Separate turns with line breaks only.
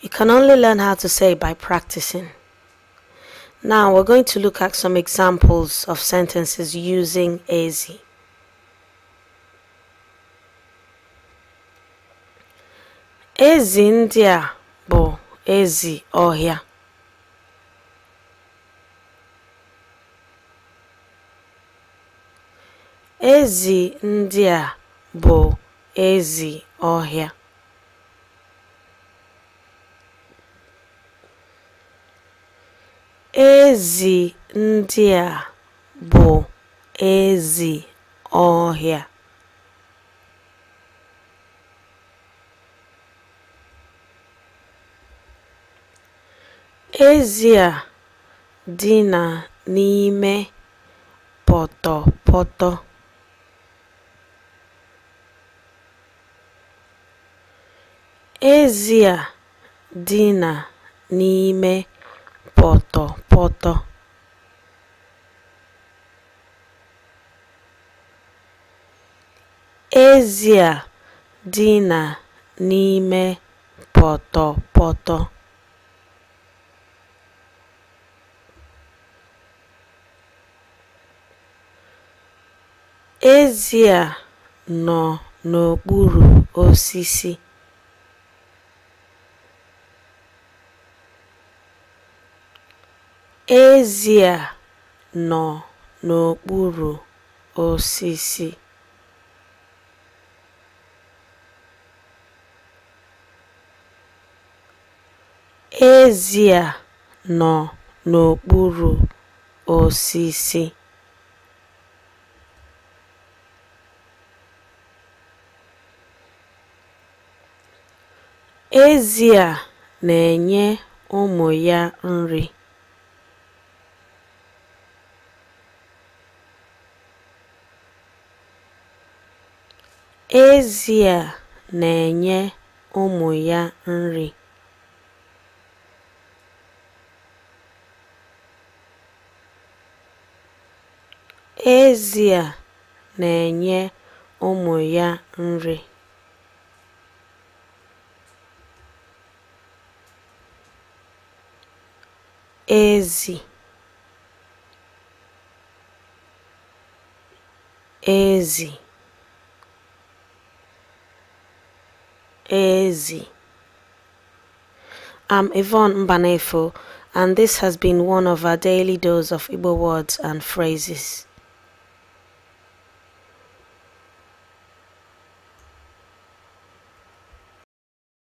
You can only learn how to say by practicing. Now we're going to look at some examples of sentences using ezi. Ezi ndị a bụ ezi ọhịa. Ezi ndị a bụ ezi ọhịa. Ezi ndị a bụ ezi ọhịa. Ezi a dina n'ime pọtọpọtọ. Ezi a dina n'ime pọtọpọtọ. Ezi a dina n'ime pọtọpọtọ. Ezi a nọ n'okpuru osisi. Ezi a nọ n'okpuru osisi. Ezi a nọ n'okpuru osisi. Ezi a na-enye ụmụ ya nri. Ezi a na-enye ụmụ ya nri. Ezi a na-enye ụmụ ya nri. Ezi ezi ezi I'm Yvonne Mbanefo and this has been one of our daily dose of Igbo words and phrases.